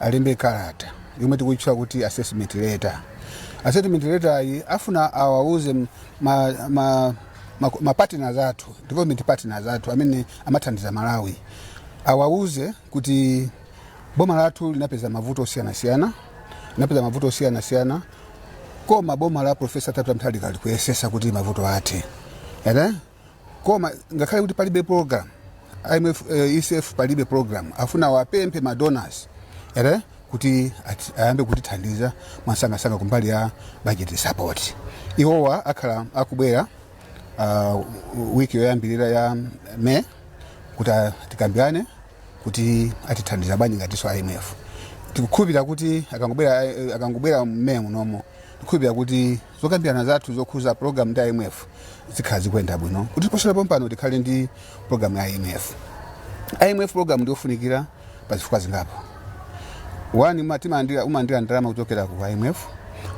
alembe kalata yomwe tikuitchula kuti assessment letter assessment letter iyi afuna awauze m- ma, ma, ma, ma partners athu development partners athu amene amathandiza malawi awauze kuti boma lathu linapeza mavuto osiyanasiyana linapeza mavuto osiyanasiyana koma boma la profesa arthur peter mutharika likuyesesa kuti mavuto athe ere Koma ngakhale kuti palibe program IMF, eh, ECF palibe program afuna awapemphe ma donors ere kuti ati- ayambe kutithandiza mwamsangamsanga kumbali ya budget support iwowa akhala akubwera uh, wiki yoyambirira ya May kuti a- tikambirane kuti atithandiza bwanji ngatinso IMF tikukhulupirira kuti akangobwera akangobwera May munomo tikukhulupirira kuti zokambirana zathu zokhuza program ndi imf zikhala zikuyenda bwino kuti posachedwa pompano tikhale ndi program ya imf imf program ndiyofunikira pa zifukwa zingapo wani ma- timalandira- umalandira ndalama kuchokera ku imf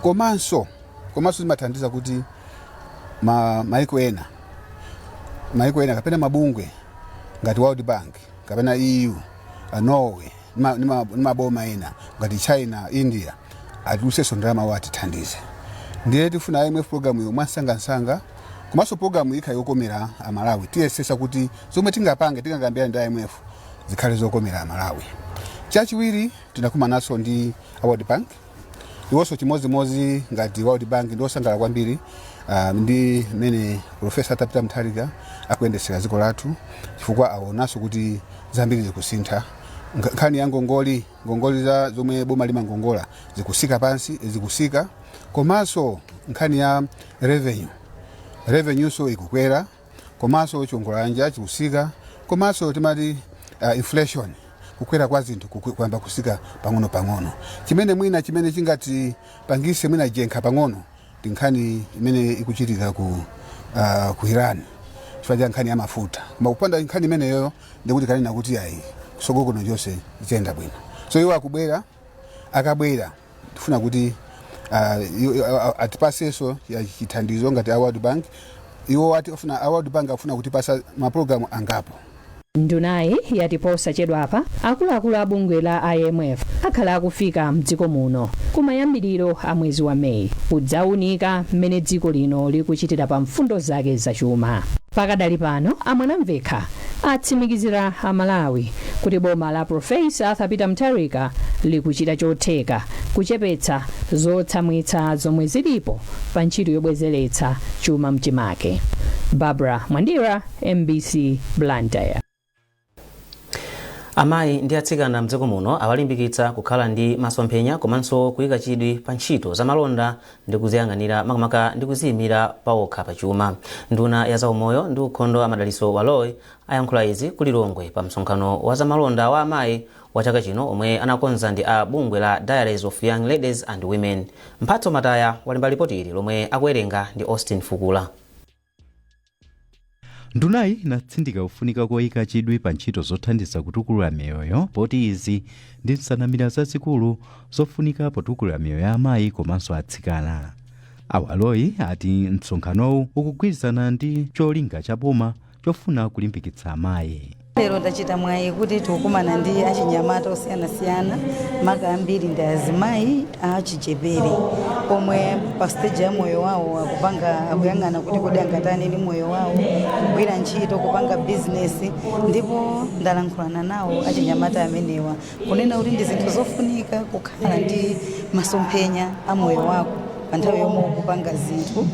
komanso komanso zimathandiza kuti ma, maiko ena maiko ena kapena mabungwe ngati world bank kapena eu a norway ma- ndi ma- ndi maboma ena ngati china india atulusenso ndalama awo atithandize ndiye tifuna imf program iyo mwamsangamsanga komanso program iyi ikhale yokomera amalawi tiyesesa kuti zomwe tingapange tingakambirana ndi imf zikhale zokomera amalawi chachiwiri tinakumananso ndi a world bank Iwonso chimodzimodzi ngati World Bank ndi osangalala kwambiri ah, ndi mmene Profesa Arthur Peter Mutharika akuyendetsera dziko lathu chifukwa awonanso kuti zambiri zikusintha. Nkha- Nkhani ya ngongole, ngongole za zomwe boma limangongola zikusika pansi, zikusika komanso nkhani ya revenue, revenue-nso ikukwera. komanso chiongolanja chikusika komanso timati uh, inflation kukwera kwa zinthu kuku- kuyamba kusika pang'ono pang'ono chimene mwina chimene chingatipangise mwina njenkha pang'ono ndi nkhani imene ikuchitika ku, uh, ku iran chifukwa cha nkhani ya mafuta koma kupanda nkhani imeneyoyo ndikuti tikanena kuti ayi kusogolo kuno chonse ziyenda bwino so iwo akubwera akabwera tifuna kuti ah, i- i- a- atipasenso ya chithandizo ngati a world bank iwo ati afuna a world bank akufuna kutipasa mapulogalamu angapo ndunayi yati posachedwapa akuluakulu a bungwe la imf akhala akufika mdziko muno kumayambiriro a mwezi wa meyi kudzaunika mmene dziko lino likuchitira pa mfundo zake zachuma pakadali pano amwanamvekha atsimikizira amalawi kuti boma la Prof. Arthur Peter Mutharika likuchita chotheka kuchepetsa zotsamwitsa zomwe zilipo pa ntchito yobwezeretsa chuma mchimake. Barbara Mwandira, mbc Blantyre. Amayi ndi atsikana mdziko muno awalimbikitsa kukhala ndi masomphenya komanso kuyika chidwi pa ntchito za malonda ndi kuziyang'anira makamaka ndi kuziyimira pawokha pa chuma. Nduna ya zaumoyo ndi ukhondo a Madalitso Baloyi ayankhula izi ku lilongwe pa msonkhano wa zamalonda wa amayi wa chaka chino omwe anakonza ndi a bungwe la diaries of young ladies and women mphatso mataya walemba lipoti ili lomwe akuwerenga ndi austin fukula ndunayi inatsindika kufunika koyika chidwi pa ntchito zothandiza kutukula miyoyo poti izi ndi nsanamira zazikulu zofunika potukula miyoyo ya amayi komanso atsikana a baloyi ati msonkhanowu ukugwirizana ndi cholinga cha boma chofuna kulimbikitsa amayi lero ndachita mwayi kuti tikukumana ndi achinyamata osiyanasiyana maka ambiri ndi azimayi achichepere omwe pa stage ya moyo wawo akupanga akuyang'ana kuti kodi angatani ndi moyo wawo kugwira ntchito kupanga bizinesi ndipo ndalankhulana nawo achinyamata amenewa kunena kuti ndi zinthu zofunika kukhala ndi masomphenya a moyo wako pa nthawi yomwe ukupanga zinthu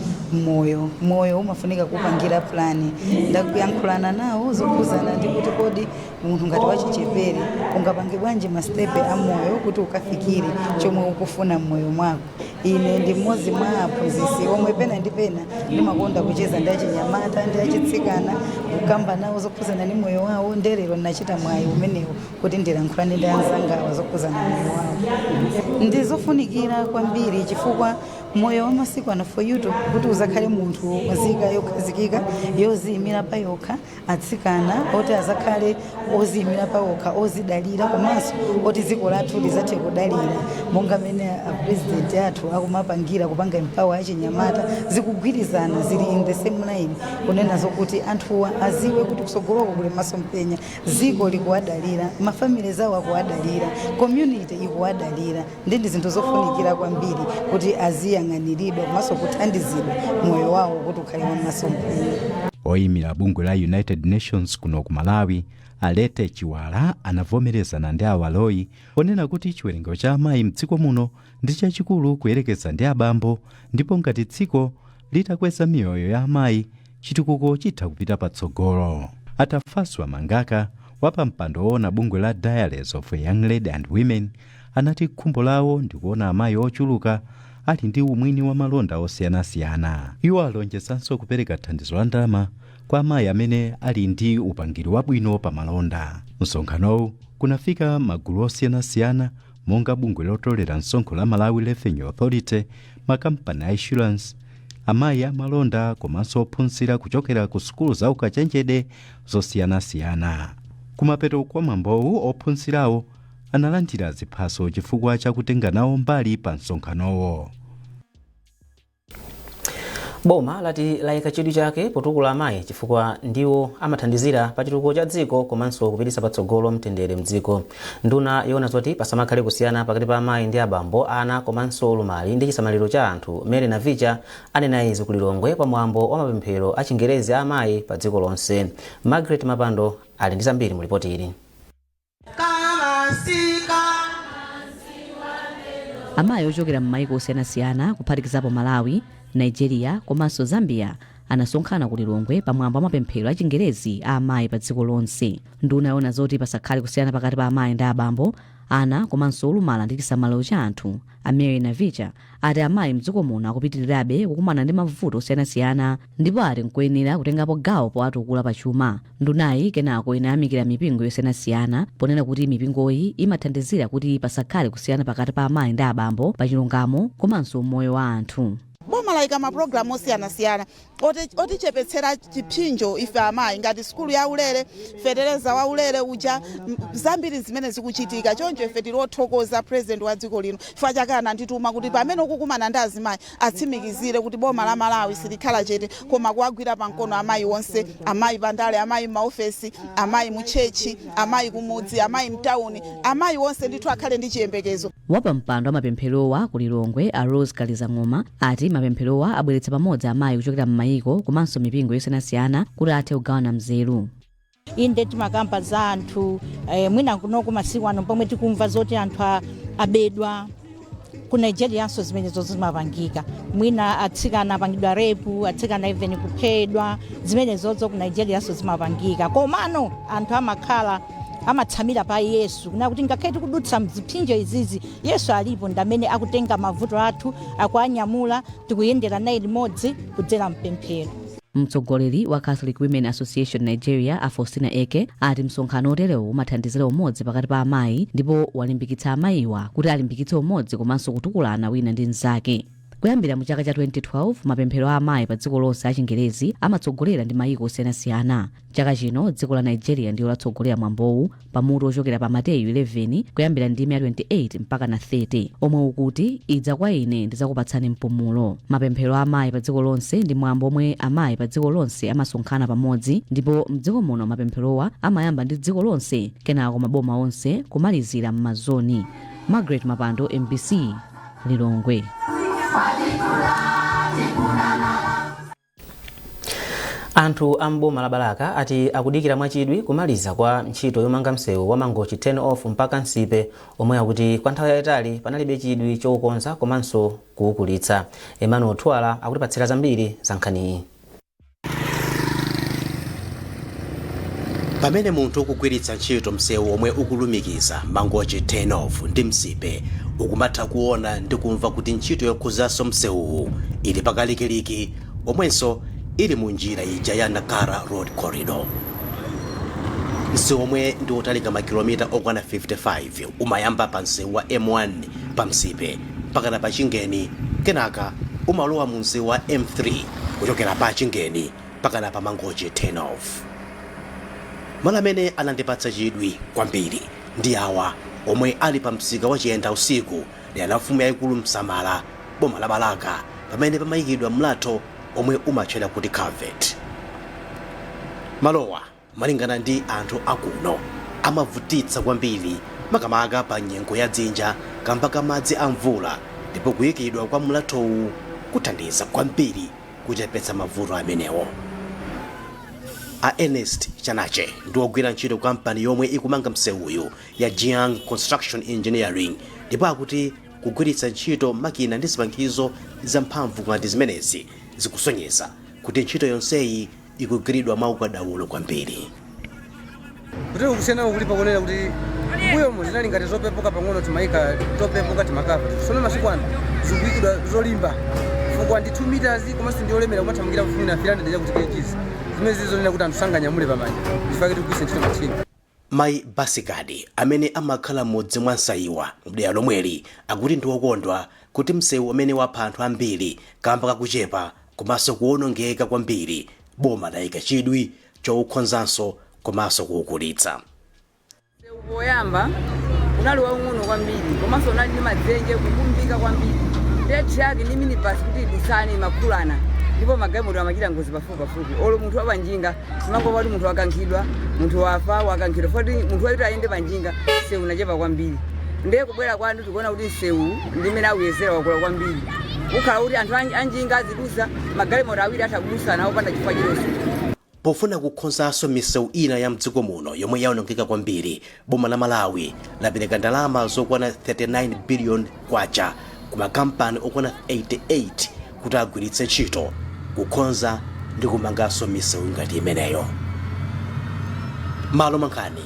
moyo moyo umafunika kupangira pulani ndakuyankhulana nawo zokhudzana ndi kuti kodi munthu ngati wachichepere ungapange bwanji masitepe a moyo kuti ukafikire chomwe ukufuna mmoyo mwako ine ndi mmodzi mwa aphunzitsi omwe pena ndi pena ndimakonda kucheza ndi achinyamata ndi achitsikana kukamba nawo zokhudzana ndi moyo wawo nde lero ndinachita mwayi umenewo kuti ndilankhulane ndi anzangawa zokhudzana moyo wawo ndi zofunikira kwambiri chifukwa moyo wa masiku ano for you to kuti uzakhale munthu wazika yokhazikika yoziyimira pa yokha atsikana oti azakhale oziyimira pa okha ozidalira komanso oti dziko lathu lizathe kudalira monga mene apurezidenti athu akumapangira kupanga empower achinyamata zikugwirizana zili in the same line kunena zokuti anthuwa aziwe kuti kusogoloko kuli masomphenya dziko likuwadalira, ma families zawo akuwadalira, community ikuwadalira nde ndi zinthu zofunikira kwambiri kuti aziyang'aniridwa komanso kuthandizidwa moyo wawo kuti ukhale wamasomphenya. oyimira bungwe la united nations kuno ku malawi a letty chiwara anavomerezana ndi a baloyi ponena kuti chiwerengero cha amayi mdziko muno ndi chachikulu kuyerekeza ndi abambo ndipo ngati dziko litakweza miyoyo ya amayi chitukuko chitha kupita patsogolo atafaswa mangaka wapampando woona bungwe la diaries of a young lady and women anati khumbo lawo ndikuona amayi ochuluka ali ndi umwini wa malonda osiyanasiyana iwo alonjezanso kupereka thandizo la ndalama kwa amayi amene ali ndi upangiri wabwino pa malonda msonkhanowu kunafika magulu osiyanasiyana monga bungwe lotolera msonkho la malawi revenue authority makampani a insurance amayi amalonda komanso ophunzira kuchokera ku sukulu za ukachenjede zosiyanasiyana kumapeto kwa mwambowu ophunzirawo analandira ziphaso chifukwa cha kutenga nawo mbali pa msonkhanowo boma lati layika chidwi chake potukula amayi chifukwa ndiwo amathandizira pa chitukuko cha dziko komanso kupititsa patsogolo mtendere mdziko nduna yowona zoti pasamakhale kusiyana pakati pa amayi ndi abambo ana komanso ulumali ndi chisamaliro cha anthu mary navicha anena izi ku lilongwe pa mwambo wa mapemphero a chigwirizano a amayi pa dziko lonse margaret mapando ali ndi zambiri mu lipoti ili Amayi ochokera m'mayiko osiyanasiyana kuphatikizapo Malawi, Nigeria komanso Zambia anasonkhana ku Lilongwe pamwambo wa mapemphero a chigwirizano a amayi pa dziko lonse. Nduna yoona zoti pasakhale kusiyana pakati pa amayi ndi abambo, ana komanso olumala ndi chisamaliro cha anthu, a Mary Navicha ati amayi mdziko muno akupitirirabe kukumana ndi mavuto osiyanasiyana ndipo ati nkoyenera kutengapo gawo powatukula pa chuma ndunayi kenako inayamikira mipingo yosiyanasiyana ponena kuti mipingoyi imathandizira kuti pasakhale kusiyana pakati pa amayi ndi abambo pa chilungamo komanso umoyo wa anthu boma layika mapulogalamu osiyanasiyana otichepetsera chiphinjo ife amayi ngati sukulu ya ulere fetereza wa ulere uja zambiri zimene zikuchitika choncho ife tili othokoza president wa dziko lino chifukwa chake anandituma kuti pamene ukukumana ndi azimayi atsimikizire kuti boma la Malawi silikhala chete koma kuwagwira pa mkono amayi onse, amayi pa ndale, amayi m'maofesi, amayi mu tchetchi, amayi kumudzi, amayi mtauni, amayi onse ndithu akhale ndi chiyembekezo. Wapampando wa mapempherowa ku Lilongwe a Rose Kalizang'oma ati mapempherowa abweretsa pamodzi amayi kuchokera m'mayiko komanso mipingo yosiyanasiyana kuti athe kugawana nzeru. inde timakamba za anthu eh, mwina kunoko masiku ano pomwe tikumva zoti anthu a- abedwa ku nigerianso zimenezozo zimapangika mwina atsikana apangidwa repu atsikana even kuphedwa zimenezozo ku nigerianso zimapangika komano anthu amakhala amatsamira pa yesu kunena kuti ngakhale tikudutsa mziphinjo izizi yesu alipo ndamene akutenga mavuto athu akuanyamula tikuyendera naye limodzi kudzera mpemphero Mtsogoleri wa Catholic Women Association Nigeria a Faustina Eke ati msonkhano oterewu umathandizira umodzi pakati pa amayi ndipo walimbikitsa amayiwa kuti alimbikitse umodzi komanso kutukulana wina ndi mnzake. Kuyambira mu chaka cha 2012 mapemphero a amayi pa dziko lonse achingerezi amatsogoleredwa ndi mayiko osiyanasiyana. chaka chino dziko la nigeria ndiyo latsogolera mwambowu pa mutu ochokera pa mateyu 11 kuyambira ndime ya 28 mpaka na 30 omwe ukuti idzani kwa ine ndidzakupatsani mpumulo mapemphero a amayi pa dziko lonse ndi mwambo omwe amayi pa dziko lonse amasonkhana pamodzi ndipo mdziko muno mapempherowa amayamba ndi dziko lonse kenako maboma onse kumalizira m'mazoni margaret mapando mbc lilongwe anthu a m'boma la balaka ati akudikira mwachidwi kumaliza kwa ntchito yomanga msewu wa mangochi turn off mpaka nsipe omwe akuti kwa nthawi yayitali panalibe chidwi choukonza komanso kuukulitsa emmanuel thuwala akutipatsira zambiri za nkhaniyi Pamene munthu ukugwiritsa ntchito msewu omwe ukulumikiza Mangochi Turn Off ndi Nsipe, ukumatha kuona ndi kumva kuti ntchito yokonzanso msewuwu ili pakalikiliki omwenso ili mu njira ija ya Nacala Road Corridor. Msewu omwe ndi otalika makilomita okwana 55 umayamba pa msewu wa M1 pa Nsipe mpakana pa Chingeni kenaka umalowa mu msewu wa M3 kuchokera pa Chingeni Mpakana pa Mangochi turn off. Malo amene anandipatsa chidwi kwambiri ndi awa omwe ali pa msika wa Chiyendausiku dera la mfumu yayikulu Nsamala boma la Balaka pamene pamayikidwa mlatho omwe umatchedwa kuti Culvert. Malowa Malingana ndi anthu a kuno, amavutitsa kwambiri makamaka pa nyengo ya dzinja kamba ka madzi a mvula ndipo kuyikidwa kwa mlathowu kuthandiza kwambiri kuchepetsa mavuto amenewo. A Ernest Chanache ndi wogwira ntchito kampani yomwe ikumanga msewuyu ya Jiang Construction Engineering ndipo akuti kugwiritsa ntchito makina ndi zipangizo zamphamvu ngati zimenezi zikusonyeza kuti ntchito yonseyi ikugwiridwa mwaukadaulo kwambiri. Kutero kusiyana kulipo kunena kuti mbuyomo zinali ngati zopepuka pang'ono timayika topepuka timakava tsono masiku ano zikuyikidwa zolimba chifukwa ndi 2 meters komanso ndi olemera kumathamangira kufuna 300 chakuti kgs zimene zili zonena kuti anthu sanganyamule pamanja nchifukwa chake tikugwiritsa ntchito machini Mai Basikadi amene amakhala m'mudzi mwa Nsaiwa mdera lomweli akuti ndi okondwa kuti mseu umene wapha anthu ambiri kamba kakuchepa komanso kuonongeka kwambiri boma laika chidwi choukonzanso komanso kuukulitsa. Mseuwu poyamba unali waung'ono kwambiri komanso unali ndi madzenje, kukumbika kwambiri nde truck ndi minibus kuti zidutsane zimakhulana ndipo magalimoto amachita ngozi pafupipafupi olo munthu wapanjinga. Timangomva kuti munthu wakankhidwa, munthu wafa, wakankhidwa poti munthu woti ayende panjinga msewu unachepa kwambiri. Ndiye kubwera kwanu tikuona kuti msewuwu ndi mmene auyezera wakula kwambiri. Ukhala kuti anthu anjinga azidusa magalimoto awiri atha kudusana opanda chifukwa chilichonse. Pofuna kukonzanso misewu ina ya mdziko muno yomwe yaonongeka kwambiri, boma la malawi lapereka ndalama zokwana 39 billion kwacha ku makampani okwana 88 kuti agwiritse ntchito kukonza ndi kumanganso misewu ngati imeneyo malo mwa nkhani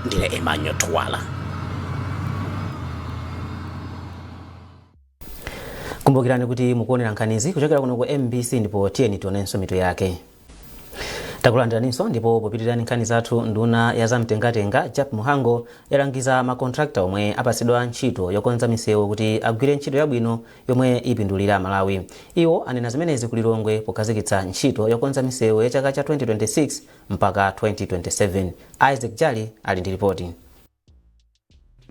ndine emmanuel twala kumbukirani kuti mukuonera nkhanizi kuchokera kuno ku mbc ndipo tiyeni tionenso mitu yake takulandiraninso ndipo popitira ndi nkhani zathu nduna ya zamtengatenga jappie mhango yalangiza makontrakta omwe apatsidwa ntchito yokonza misewu kuti agwire ntchito yabwino yomwe ipindulira amalawi iwo anena zimenezi ku lilongwe pokhazikitsa ntchito yokonza misewu ya chaka cha 2026 mpaka 2027 isaac jali ali ndi ripoti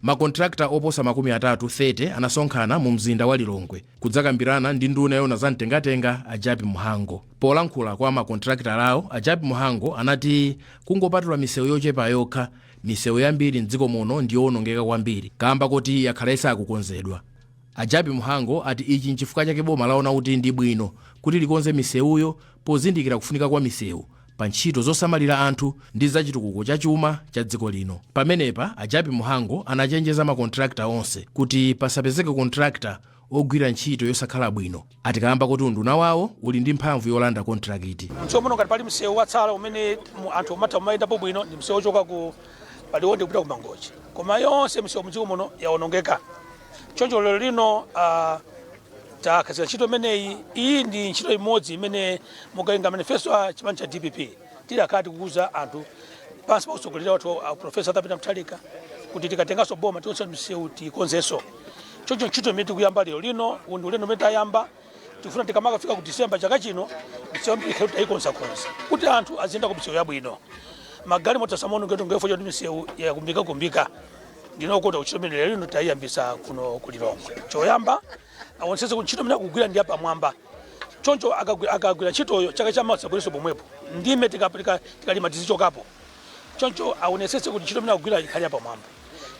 Makontilakita oposa makumi atatu 30 anasonkhana mu mzinda wa Lilongwe kudzakambirana ndi nduna yoona za mtengatenga a Jappie Mhango. Polankhula kwa makontilakitalawo, a Jappie Mhango anati kungopatula misewu yochepa yokha, misewu yambiri m'dziko muno ndi yoonongeka kwambiri kaamba koti yakhala isakukonzedwa. A Jappie Mhango ati ichi n'chifukwa chake boma laona kuti ndi bwino kuti likonze misewuyo pozindikira kufunika kwa misewu pa ntchito zosamalira anthu ndi za chitukuko cha chuma cha dziko lino. Pamenepa, a Jappie Mhango anachenjeza ma contractor onse kuti pasapezeke contractor ogwira ntchito yosakhala bwino ati kaamba koti unduna wawo uli ndi mphamvu yolanda kontrakiti. M'dziko muno ngati pali msewu watsala umene mu- anthu umatha kumayendapo bwino ndi msewu wochoka pa Liwonde kupita ku Mangochi, koma yonse msewu mdziko muno yawonongeka. Choncho lero lino ah, takhazikitsa ntchito imeneyi iyi ndi ntchito imodzi imene mukawerenga manifesto a chipani cha dpp tidakhala tikuuza anthu pansi pa mtsogoleri wathu a profesa arthur peter mutharika kuti tikatenganso boma tionse misewu tikonzenso choncho ntchito imene tikuyamba lero lino uwu ndi ulendo umene tayamba tifuna tikamakafika ku disemba chaka chino misewu yambiri ikhale tayikonzakonza kuti anthu aziyenda ku misewu yabwino magalimoto asamaonongeke chifukwa choti misewu yakumbikakumbika ndiye ntchito imene lero ino tayiyambisa kuno ku lilongwe choyamba awonsese kuti ntchito imene akugwira ndi yapamwamba choncho akagwi- akagwira ntchitoyo chaka cha mawa sabwerenso pomwepo ndime tikapeleka tikalima tizichokapo choncho awonesese kuti ntchito imene akugwira ikhale yapamwamba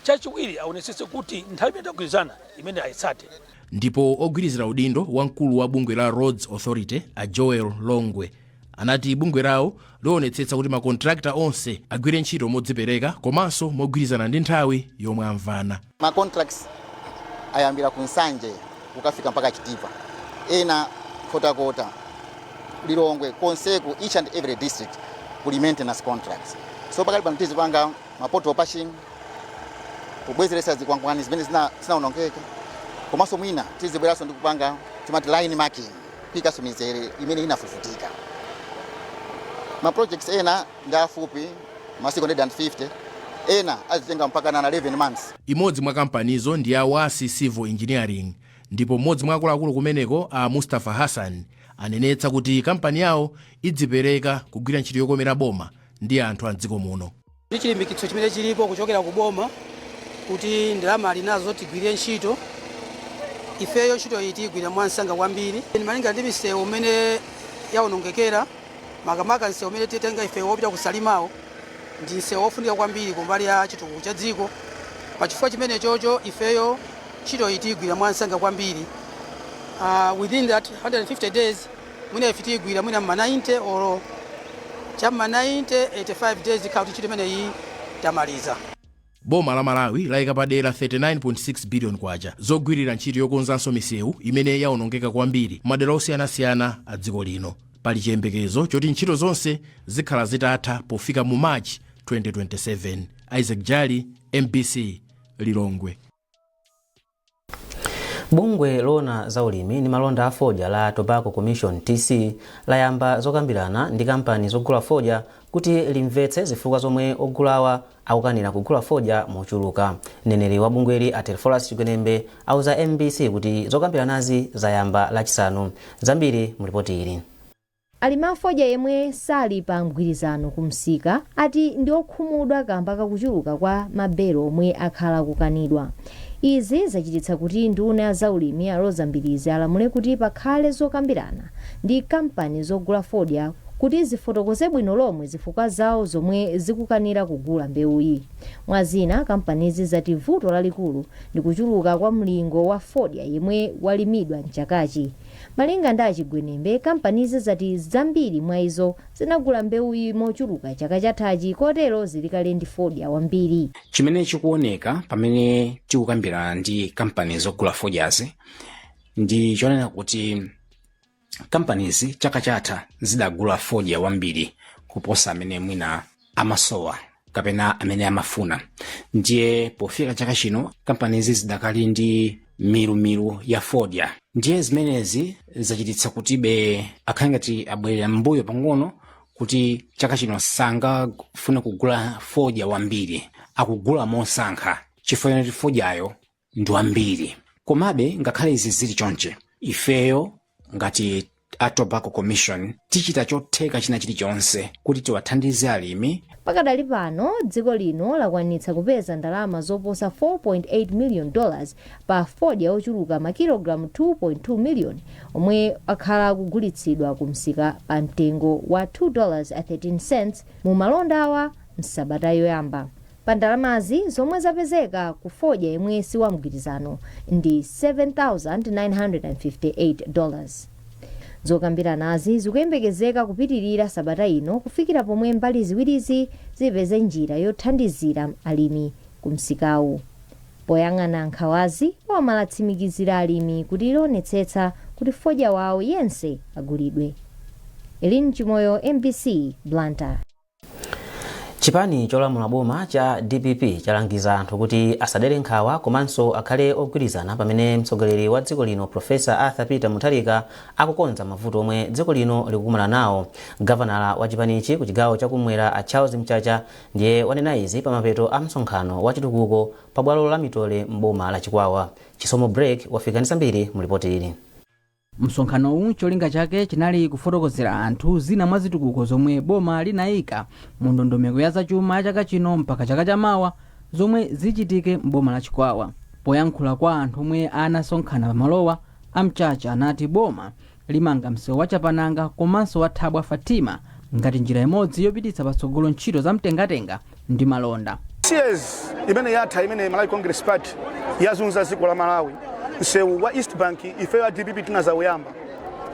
chachiwiri awonesese kuti nthawi imene tagwirizana imene ayitsate ndipo ogwirizira udindo wa mkulu wa bungwe la roads authority a joel longwe anati bungwe lawo lionetsetsa kuti makontrakta onse agwire ntchito modzipereka komanso mogwirizana ndi nthawi yomwe amvana ma contracts ayambira ku nsanje kukafika mpaka chitipa ena nkhotakota lilongwe konseku each and every district kuli maintenance contracts so pakali pano tizipanga ma pothole patching kubwezeretsa zikwangwani zimene zina- zinaonongeka komanso mwina tizibweranso ndi kupanga timati line marking kuikanso mizere imene inafufutika. Ma projects ena ndi afupi masiku 150, ena azitenga mpakana na 11 months. Imodzi mwa kampanizo ndi ya Wasi Civil Engineering ndipo m'modzi mwa akuluakulu kumeneko a Mustapha Hassan anenetsa kuti kampani yawo idzipereka kugwira ntchito yokomera boma ndi anthu a m'dziko muno. Ndi chilimbikitso chimene chilipo kuchokera ku boma kuti ndalama ali nazo tigwire ntchito, ifeyo ntchitoyi tiyigwira mwansanga kwambiri. Malinga ndi misewu m'mene yawonongekera, makamaka msewu umene titenga ife wopita ku Salimawo, ndi msewu wofunika kwambiri ku mbali ya chitukuko cha dziko. Pa chifukwa chimenechocho ifeyo ntchitoyi tiyigwira mwansanga kwambiri within that 150 days. Mwina ife tiigwira mwina mma 90 or cha mma 90, 85 days tikhala kuti ntchito imeneyi tamaliza. Boma la Malawi laika padera K39.6 billion zogwirira ntchito yokonzanso misewu imene yaonongeka kwambiri mmadera osiyanasiyana a dziko lino. Pali chiyembekezo choti ntchito zonse zikhala zitatha pofika mu March 2027. Isaac Jali, mbc, Lilongwe. bungwe loona za ulimi ndi malonda a fodya la tobacco commission tc layamba zokambirana ndi kampani zogula fodya kuti limvetse zifukwa zomwe ogulawa akukanira kugula fodya mochuluka mneneri wa bungweli a telephorus chigwenembe auza mbc kuti zokambiranazi zayamba lachisanu zambiri mulipoti ili Alimi a fodya yemwe sali pa mgwirizano ku msika ati ndi okhumudwa kamba kakuchuluka kwa ma belo omwe akhala akukanidwa. Izi zachititsa kuti nduna ya zaulimi a Roza Mbilizi alamule kuti pakhale zokambirana ndi kampani zogula fodya kuti zifotokoze bwino lomwe zifukwa zawo zomwe zikukanira kugula mbewuyi. Mwa zina, kampanizi zati vuto lalikulu ndi kuchuluka kwa mlingo wa fodya yemwe walimidwa m'chakachi. Malinga ndi a Chigwenembe, kampanizi zati zambiri mwa izo zinagula mbewuyi mochuluka chaka chathachi kotero zili kale ndi fodya wambiri. Chimene chikuoneka pamene tikukambirana ndi kampani zogula fodyazi ndi chonena kuti kampanizi chaka chatha zidagula fodya wambiri kuposa amene mwina amasowa kapena amene amafuna ndiye pofika chaka chino kampanizi zidakali ndi milumilu ya fodya ndiye zimenezi zachititsa kuti be akhale ngati abwerera m'mbuyo pang'ono kuti chaka chino sangafune kugula fodya wambiri akugula mosankha chifukwa choti fodyayo ndi wambiri komabe ngakhale izi zili chonche ifeyo ngati a tobacco commission tichita chotheka china chilichonse kuti tiwathandize alimi pakadali pano dziko lino lakwanitsa kupeza ndalama zoposa 4.8 million dollars pa fodya ochuluka makilogalamu 2.2 million omwe akhala akugulitsidwa ku msika pa mtengo wa 2 dollars 13 cents mu malondawa msabata yoyamba Pa ndalamazi zomwe zapezeka ku fodya yemwe si wamgwirizano ndi 7,958 dollars. Zokambiranazi zikuyembekezeka kupitilira sabata ino kufikira pomwe mbali ziwirizi zipeze njira yothandizira alimi ku msikawu. Poyang'ana nkhawazi, boma latsimikizira alimi kuti lionetsetsa kuti fodya wawo yense agulidwe. Elin Chimoyo, mbc, Blantyre. chipani cholamula boma cha dpp chalangiza anthu kuti asadere nkhawa komanso akhale ogwirizana pamene mtsogoleri wa dziko lino profesa arthur peter mutharika akukonza mavuto omwe dziko lino likukumana nawo gavanala wa chipanichi ku chigawo chakumwera a charles mchacha ndiye wanena izi pamapeto a msonkhano wa chitukuko pa bwalo la mitole m'boma la chikwawa chisomo break wafika ndi zambiri mu lipoti ili Msonkhanowu cholinga chake chinali kufotokozera anthu zina mwa zitukuko zomwe boma linaika mu ndondomeko ya zachuma ya chaka chino mpaka chaka cha mawa zomwe zichitike m'boma la Chikwawa. Poyankhula kwa anthu omwe anasonkhana pa malowa, a Mchacha anati boma limanga msewu wa Chapananga komanso wa Thabwa Fatima ngati njira imodzi yopititsa patsogolo ntchito za mtengatenga ndi malonda. Series imene yatha imene Malawi Congress Party yazunza dziko la Malawi, msewu wa East Bank ifeyo a dpp tinazawuyamba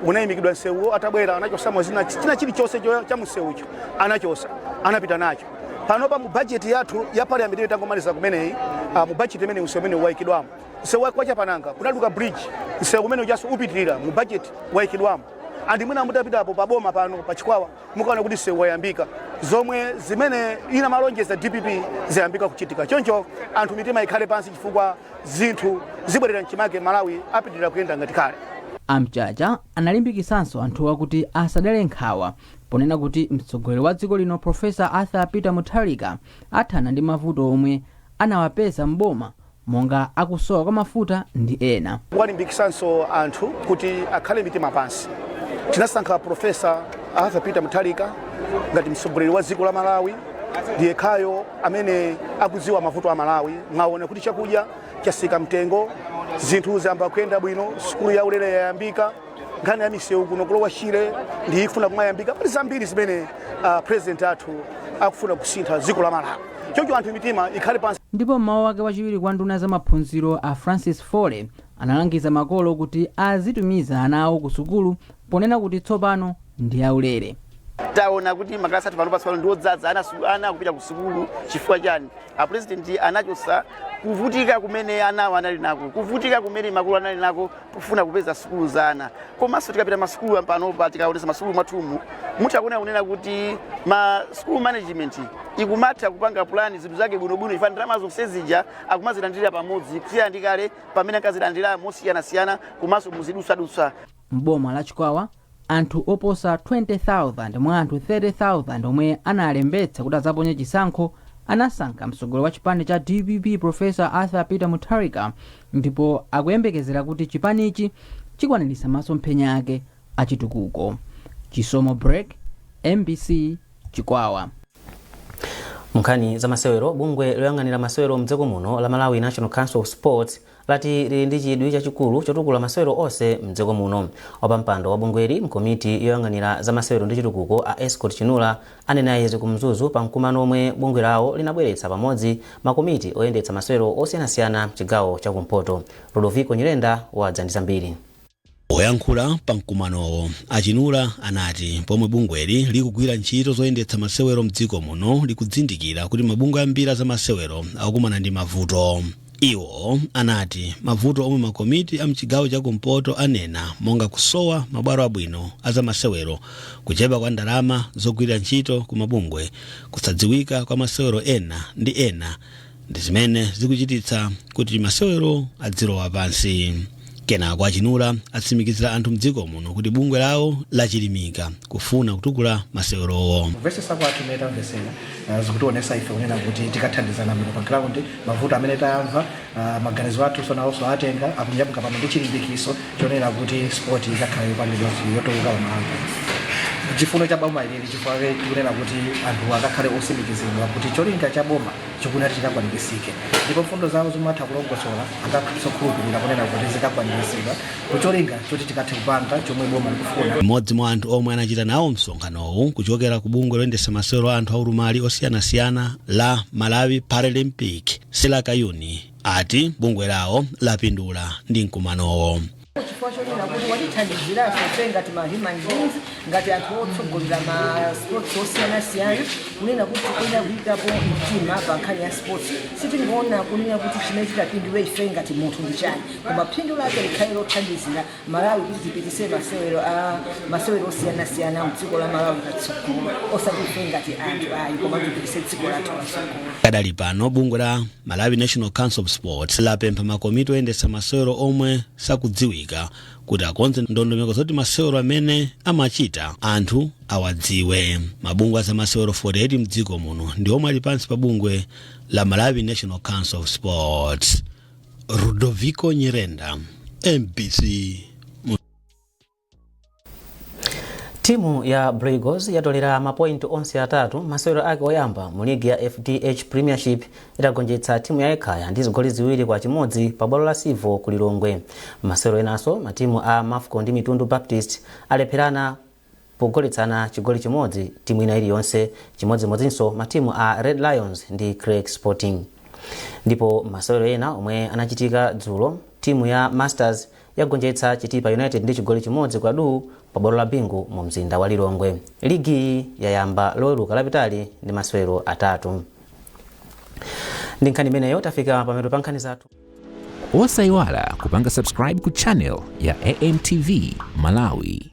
unayimikidwa msewuwo, atabwera anachosamo zina china chilichonse cho- cha msewucho anachosa anapita nacho. Panopa mu bajeti yathu ya parliament imene tangomaliza kumeneyi, ah, mu bajeti imene msewu umene wayikidwamo msewu wa kwa Chapananga kunaduka bridge, msewu umene ujaso upitirira mu bajeti wayikidwamo, and mwina mutapitapo pa boma pano pa Chikwawa mukaona kuti msewu wayambika zomwe zimene inamalonjeza dpp zayambika kuchitika choncho anthu mitima ikhale pansi chifukwa zinthu zibwerera mchimake malawi apitirira kuyenda ngati kale a mchacha analimbikitsanso anthuwa kuti asadere nkhawa ponena kuti mtsogoleri wa dziko lino profesa arthur peter mutharika athana ndi mavuto omwe anawapeza m'boma monga a kusowa kwa mafuta ndi ena. Kuwalimbikitsanso anthu kuti akhale mitima pansi. Tinasankha Prof. Arthur Peter Mutharika ngati mtsogoleri wa dziko la Malawi ndi yekhayo amene akudziwa mavuto a Malawi. Mwaona kuti chakudya chatsika mtengo, zinthu zayamba kuyenda bwino, sukulu yaulele yayambika. nkhani ya misewu kuno ku lower shire ikufuna kumayambika pali zambiri zimene uh, president athu akufuna kusintha dziko la malawi choncho anthu mitima ikhale pansi ndipo mmawu ake wachiwiri kwa nduna ya za maphunziro a francis foley analangiza makolo kuti azitumiza ana awo ku sukulu ponena kuti tsopano ndi yaulere taona kuti makalasi athu pano pasopano ndi odzadza ana su- ana akupita ku sukulu chifukwa chani apurezidenti anachotsa kuvutika kumene ana anali nako kuvutika kumene makolo anali nako pofuna kupeza sukulu za ana komanso tikapita masukulu panopa tikaonesa masukulu mwathumu mutha kuona kunena kuti ma school management ikumatha kupanga pulani zinthu zake bwinobwino chifukwa ndalama zonse zija akumazilandira pamodzi kusiyana ndi kale pamene ankazilandira mosiyanasiyana komanso muzidutswadutsa m'boma la chikwawa anthu oposa 20,000 mwa anthu 30,000 omwe analembetsa kuti adzaponye chisankho anasankha mtsogoleri wa chipani cha dpp profesa arthur peter mutharika ndipo akuyembekezera kuti chipanichi chikwaniritsa masomphenya ake achitukuko chisomo break mbc chikwawa munkhani za masewero bungwe loyang'anira masewero mdziko muno la malawi national council of sports lati lili ndi chidwi chachikulu chotukula masewero onse m'dziko muno. Wapampando wa bungweli m'komiti yoyang'anira za masewero ndi chitukuko a Escort Chinula anena izi ku Mzuzu pa mkumano omwe bungwe lawo linabweretsa pamodzi makomiti oyendetsa masewero osiyanasiyana m'chigawo cha kumpoto. Ludovico Nyirenda wadza ndi zambiri. Poyankhula pa mkumanowo, a Chinula anati pomwe bungweli likugwira ntchito zoyendetsa masewero mdziko muno likuzindikira kuti mabungwe ambiri a zamasewero akukumana ndi mavuto. Iwo anati mavuto omwe makomiti a mchigawo cha kumpoto anena monga kusowa mabwalo abwino a zamasewero, kuchepa kwa ndalama zogwirira ntchito ku mabungwe, kusadziwika kwa masewero ena ndi ena, ndi zimene zikuchititsa kuti masewero adzilowa pansi kenako achinula atsimikizira anthu mdziko muno kuti bungwe lawo lachilimika kufuna kutukula masewerowo kumvesesa kwathu imene tamvesera ah, zikutionesa ife kunena kuti tikathandizana bwino pa ground mavuto amene tamva ah, maganizo athunso nawonso atenga akunyamuka pano ndi chilimbikiso chonena kuti sport ikakhale yopangidwa yotukuka pamalawi chifuno cha boma ilili chifukwa kunena kuti anthu akakhale otsimikizidwa kuti cholinga cha boma chikuti chikakwanilitsike ndipo mfundo zawo zomwe atha kulongosola akakhala okhulupirira kunena kuti zikakwanilitsidwa ndicholinga choti tikathe kupanga chomwe boma likufuna. M'modzi mwa anthu omwe anachita nawo msonkhanowu kuchokera ku bungwe loyendetsa masewero a anthu aulumali osiyanasiyana la Malawi Paralympic, Sila Kayuni, ati bungwe lawo lapindula ndi mkumanowo. chifukwa chonena kuti watithandiziranso ife ngati ma human beings ngati anthu otsogolera ma sports osiyanasiyana kunena kuti tikuyenera kuyikapo mtima pa nkhani ya sports sitingoona kunena kuti chimene chitapindule ife ngati munthu ndi chani koma phindu lake likhale lothandizira malawi kuti tipitise masewero a masewero osiyanasiyana mdziko la malawi patsogolo osati ife ngati anthu ayi koma tipitise dziko lathu patsogolo Kadali pano bungwe la Malawi National Council of Sports lapempha makomiti oyendetsa masewero omwe sakudziwika kuti akonze ndondomeko zoti masewero amene amachita anthu awadziwe. Mabungwe a zamasewero 48 mdziko muno ndi omwe ali pansi pa bungwe la Malawi National Council of Sports. Rudoviko Nyirenda, MBC. timu ya Blue Eagles yatolera mapointi onse atatu masewero ake oyamba mu ligi ya fdh premiership itagonjetsa timu ya ekhaya ndi zigoli ziwiri kwa chimodzi pa bwalo la civo ku lilongwe mmasewero enanso matimu a mafco ndi mitundu baptist alepherana pogoletsana chigoli chimodzi timu ina iliyonse chimodzimodzinso matimu a red lions ndi creck sporting ndipo masewero ena omwe anachitika dzulo timu ya masters yagonjetsa Chitipa United ndi chigoli chimodzi kwa duu pa bwalo la Bingu mu mzinda wa Lilongwe. Ligiyi yayamba loweruka lapitali ndi masewero atatu. Ndi nkhani imeneyo tafika pamapeto pa nkhani zathu. Osayiwala kupanga subscribe ku channel ya AMTV Malawi.